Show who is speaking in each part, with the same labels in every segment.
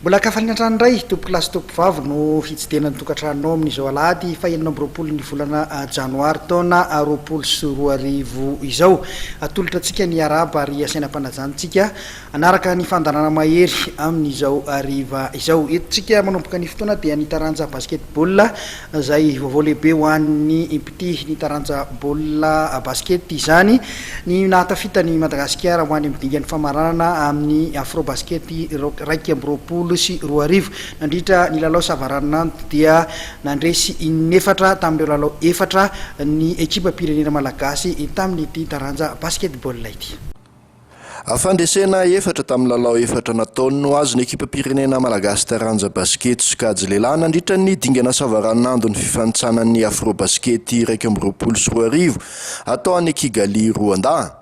Speaker 1: Mbola ka faliana hatrany indray tompokolahy sy tompovavy no hitsidihana ny tokantranonao amin'izao alahady fahenina amby roapolo ny volana ah, janoary taona ah, roapolo sy roa arivo izao. Atolotra antsika ny araba ary asaina am-panajantsika Hanaraka ny fandaharana mahery amin'izao hariva izao. Eto tsika manomboka ny fotoana dia ny taranja basket ball izay vaovao lehibe ho an'ny mpitia ny taranja baolina basket izany ny nahatafita ny Madagasikara ho any amin'ny dingan'ny famaranana amin'ny Afrobasket iraika amby roapolo sy roa arivo. Nandritra ny lalao savaranonando dia nandresy in'efatra tamin'ireo lalao efatra ny ekipam-pirenena malagasy tamin'ity taranja basket ball ity.
Speaker 2: Fandresena efatra tamin'ny lalao efatra nataony no azon'ny ekipam-pirenena malagasy taranja basikety sokajy lehilahy nandritra ny dingana savaranonandon'ny fifantsanan'ny Afrobasket iraika amby roapolo sy roa arivo atao any Kigali, Roandà.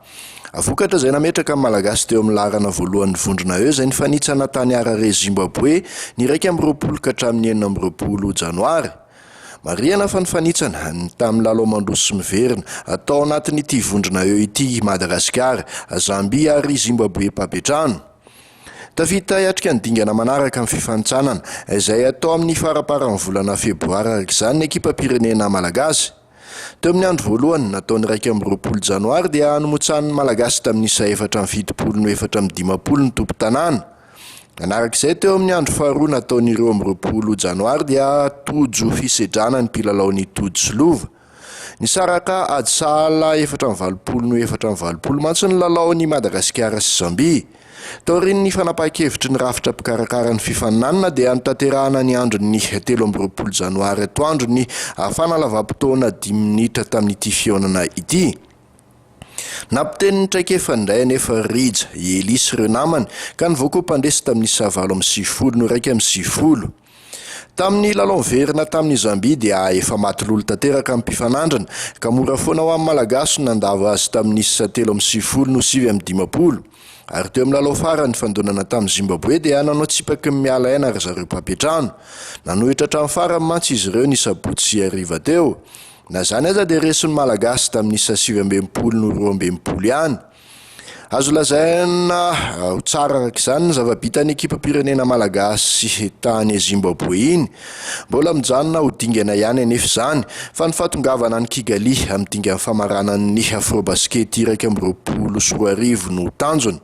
Speaker 2: Vokatra izay nametraka ny Malagasy teo amin'ny laharana voalohan'ny vondrona E izay nifanitsana tany Harare, Zimbaboe, ny iraika amby roapolo ka hatramin'ny enina amby roapolo janoary. Marihana fa ny fanitsana ny tamin'ny lalao mandroso sy miverina atao anatin'ity vondrona eo ity Madagasikara, Zambia ary Zimbaboe Pabetrano. Tafita hiatrika ny dingana manaraka amin'ny fifanintsanana izay atao amin'ny faraparan'ny volana febroary araka izany ny ekipam-pirenena malagasy. Teo amin'ny andro voalohany, natao ny iraika amby roapolo janoary, dia nomotsahan'ny Malagasy tamin'ny isa efatra amby fitopolo no efatra amby dimampolo ny tompon-tanàna. Nanaraka izay, teo amin'ny andro faharoa natao ny roa amby roapolo janoary, dia tojo fisedrana ny mpilalao ny Tojo sy Lova. Nisaraka ady sahala efatra amby valopolo no efatra amby valopolo mantsy ny lalaon'i Madagasikara sy Zambia. Taorian'ny fanapahan-kevitry ny rafitra mpikarakara ny fifaninanana dia notanterahana ny andron'ny telo amby roapolo janoary atoandro ny fanalavam-potoana dimy minitra tamin'ity fihaonana ity. Nampiteny ny traikefa indray anefa Rija, i Elie sy ireo namany ka nivoakoa mpandresy tamin'isa valo amby sivifolo noraika amby sivifolo. Tamin'ny lalao verina tamin'i Zambia dia efa maty lolo tanteraka ny mpifanandrina, ka mora foana ho an'ny Malagasy ny nandavo azy tamin'ny isa telo amby sivifolo no sivy amby dimampolo. Ary teo amin'ny lalao farany nifandonana tamin'i Zimbaboe dia nanao tsipaky ny miala aina ry zareo mpampiantrano. Nanohitra hatramin'ny farany mantsy izy ireo ny sabotsy sy hariva teo. Na izany aza dia resin'ny Malagasy tamin'ny isa sivy amby enimpolo no roa amby enimpolo ihany. Azo lazaina ho tsara araka izany ny zava-bitan'ny ekipam-pirenena malagasy tany Zimbaboe iny. Mbola mijanona ho dingana ihany anefa izany, fa ny fahatongavana any Kigali amin'ny dingan'ny famaranan'ny Afrobasket iraika amby roapolo sy roa arivo no tanjona.